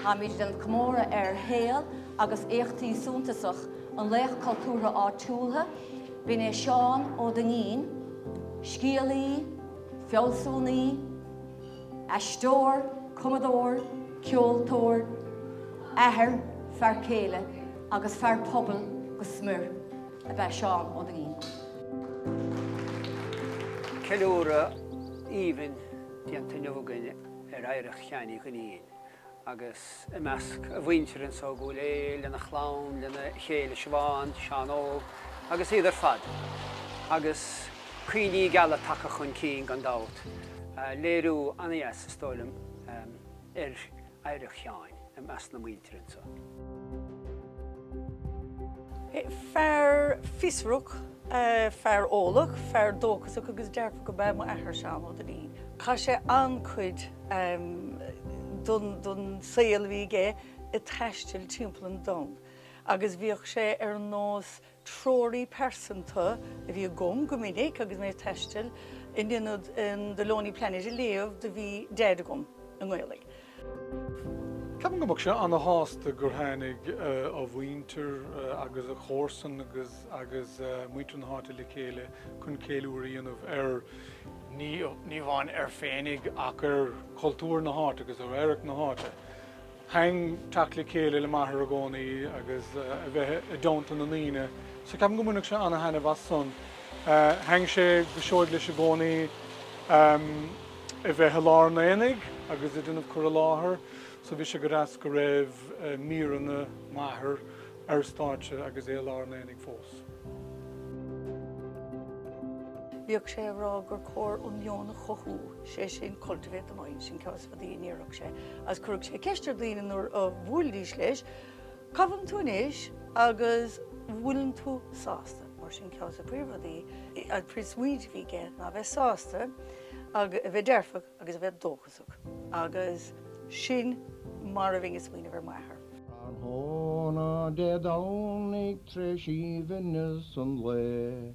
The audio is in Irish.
Táimid ag déanamh comóradh ar shaol agus éachtaí suntasach an laoch cultúrtha áitiúil, b'in é Seán Ó Duinnín, scéalaí, fealsúnaí, aisteoir, cumadóir, ceoltóir, athair, fear céile agus fear pobail go smior ab ea Seán Ó Duinnín. Ceiliúradh aoibhinn déanta inniu againn. ar oidhreacht Sheáin Uí Dhuinnín agus i measc a mhuintire anso i gCúil Aodha lena chlann, lena chéile, Siobhán, Seán Óg agus iad ar fad, agus cuimhní geala tagtha chun cinn gan dabht, léiriú an-deas, is dóigh liom, ar oidhreacht Sheáin. i measc na muintire anso. Fear fiosrach, fear eolach, fear dóchasach agus dearfach ab ea m'athair, Seán Ó Duinnín. Chaith sé an-chuid den saol a bhí aige ag taisteal timpeall an domhain agus bhíodh sé ar nós treoraí pearsanta a bhí agam go minic agus mé ag taisteal, in ionad The Lonely Planet a léamh do bhí Deaid agam i nGaeilig. Ceapaim go mbeadh sé ana-shásta gur tháinig a mhuintir agus a chomharsain agus muintir na háite le chéile chun ceiliúradh a dhéanamh ar, ní amháin air féinig, ach ar chultúr na háite agus ar oidhreacht na háite. Thaitin teacht le chéile le m'athair i gcónaí agus a bheith i dteannta na ndaoine, so ceapaim go mbainfeadh sé ana-thaitneamh as san. Thaitin sé go seoigh leis i gcónaí a bheith i lár an aonaigh agus ag déanamh cur i láthair, so bhí sé go deas go raibh míreanna m'athar air stáitse agus é i lár an aonaigh fós. Bhíodh sé ag rá gur cóir an meon a chothú, 'sé sin, cultivate the mind, sin ceann. rudaí a déarfadh sé, agus chuirfeadh sé ceist ar dhaoine nuair a bhuailidís leis, Cá bhfuileann tú anois? agus An bhfuileann tú sásta? Mar sin, ceann des na príomhrudaí, an príomhsmaoineamh a bhí aige ná a bheith sásta, a bheith dearfach agus a bheith dóchasach. Agus sin mar a bhím ag smaoineamh ar m'athair. Tráthnóna Dé Domhnaigh, tréis aoibhneas an lae.